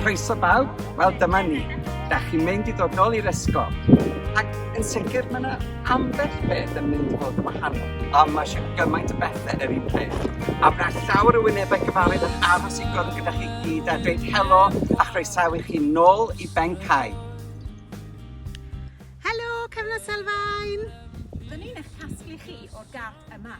Croeso bawb, wel dyma ni. Da chi'n mynd i ddod nôl i'r ysgol. Ac yn sicr mae yna ambell beth yn mynd i fod yn wahanol. A mae eisiau gymaint o bethau yr un peth. A mae llawer o wynebau cyfarwydd yn aros i gwrdd gyda chi gyd a dweud helo a chroesawu chi nôl i Ben Cai. Helo, Cyfnod Selfain! Dyn ni'n eich casglu chi o'r gap yma.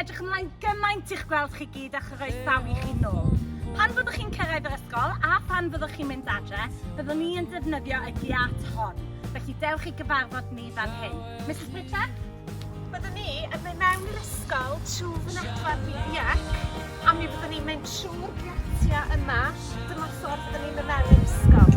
edrych ymlaen gymaint i'ch gweld chi gyd a chroesawu chi nôl. Pan fyddwch chi'n cyrraedd yr ysgol a phan fyddwch chi'n mynd adre, byddwn ni yn defnyddio y giat hon. Felly dewch i gyfarfod ni fan hyn. Mrs Pritchard? Byddwn ni yn mynd mewn i'r ysgol trwy fynedfa Fidiac a mi fyddwn ni'n mynd trwy'r giatiau yma. Dyma ffordd byddwn ni'n mynd mewn i'r ysgol.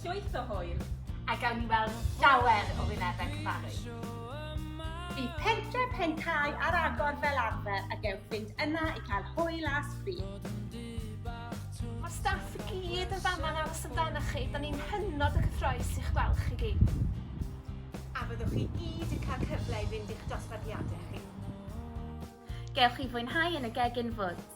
Llwyth o hwyl! A gawn ni weld llawer o wynebau cyfarwydd. Bydd pentre Pencau ar agor fel arfer a gewch fynd yna i cael hwyl a sbri. Mae'r staff i gyd yn fama yn aros amdanoch chi, da ni'n hynod o gyffroes i'ch gweld chi gyd. A fyddwch chi gyd yn cael cyfle i fynd i'ch dosbarthiadau chi. Gewch chi fwynhau yn y Gegin Woods.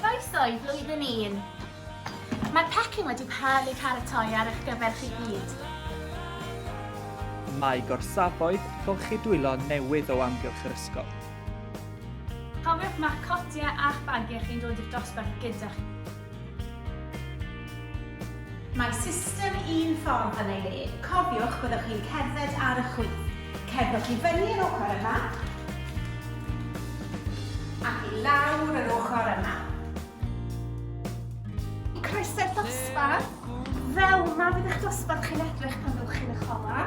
Croeso i flwyddyn un! Mae'r pecyn wedi cael ei pharatoi ar eich gyfer chi gyd. Mae gorsafoedd golchi dwylo newydd o amgylch yr ysgol. Cofiwch ma'ch cotiau a'ch bagiau chi'n dod i'r dosbarth gyda chi. Mae system un ffordd yn ei le. Cofiwch, byddwch chi'n cerdded ar y chwith. Cerddwch i fyny yr ochr yma, ac i lawr yr ochr yma. Croeso'r dosbarth. Fel 'ma fydd eich dosbarth chi'n edrych pan fyddwch chi'n eich olau.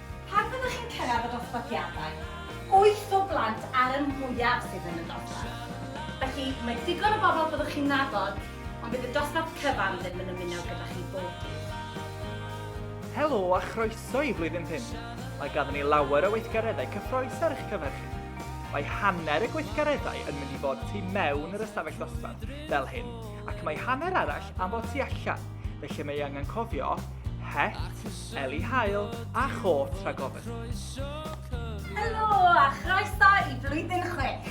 Pan fyddwch chi'n cyrraedd y dosbarthiadau, wyth o blant ar y mwyaf sydd yn y dosbarth. Felly, mae digon o bobl byddwch chi'n nabod, ond bydd y dosbarth cyfan ddim yn ymuno gyda chi bob dydd. Helo a chroeso i Flwyddyn Pump! Mae ganddyn ni lawer o weithgareddau cyffrous ar eich cyfer chi. Mae hanner y gweithgareddau yn mynd i fod tu mewn yr ystafell ddosbarth, fel hyn, ac mae hanner arall am fod tu allan, felly mae angen cofio het, Eli Hael a Chôt Rhagofn. Helo a chroeso i Flwyddyn Chwech!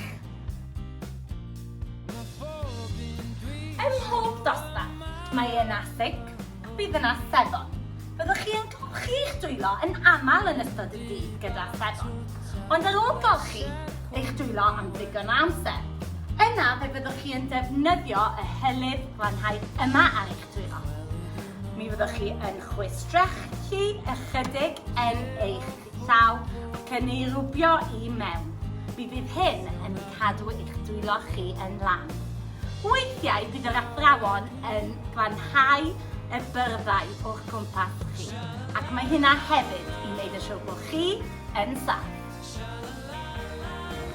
Ym mhob dosbarth, mae yna ffug, bydd yna sebon. Byddwch chi yn golchi'ch dwylo yn aml yn ystod y dydd gyda sebon, ond ar ôl golchi eich dwylo am ddigon o amser, yna fe fyddwch chi yn defnyddio y hylif glanhau yma ar eich Dwylo. Mi fyddwch chi yn chwistrellu ychydig yn eich llaw ac yn ei rwbio i mewn. Mi fydd hyn yn cadw eich dwylo chi yn lan. Weithiau bydd yr athrawon yn glanhau y byrddau o'ch cwmpas chi ac mae hynna hefyd i wneud yn siŵr bod chi yn saff.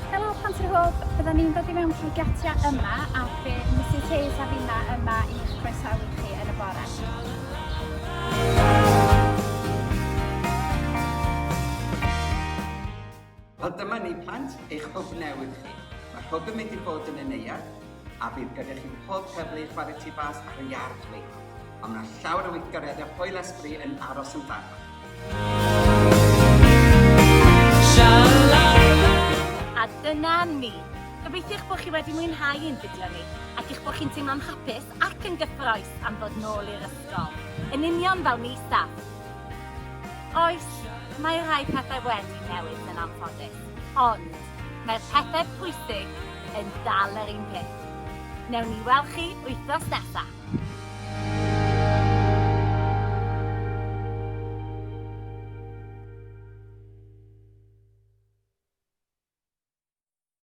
Helo Plant yr Hwb, bydden ni'n dod i mewn trwy giatia yma a fe Mrs Hayes a finna yma i'ch croesawu chi yn y bore. Wel dyma ni plant, eich hwb newydd chi. Mae'r hwb yn mynd i fod yn y neuadd, a bydd gyda chi pob cyfle i chwarae tu fas ar y iard leidr, ond mae llawer o weithgareddau Hwyl Esbri yn aros amdano. A dyna ni. Gobeithiwch bod chi wedi mwynhau ein fideo ni ac eich bod chi'n teimlo'n hapus ac yn gyffroes am ddod nôl i'r ysgol, yn union fel ni staff. Oes, mae rhai pethau wedi newid yn anffodus, ond Mae'r pethau pwysig yn dal yr un peth. Newn ni weld chi wythnos nesa.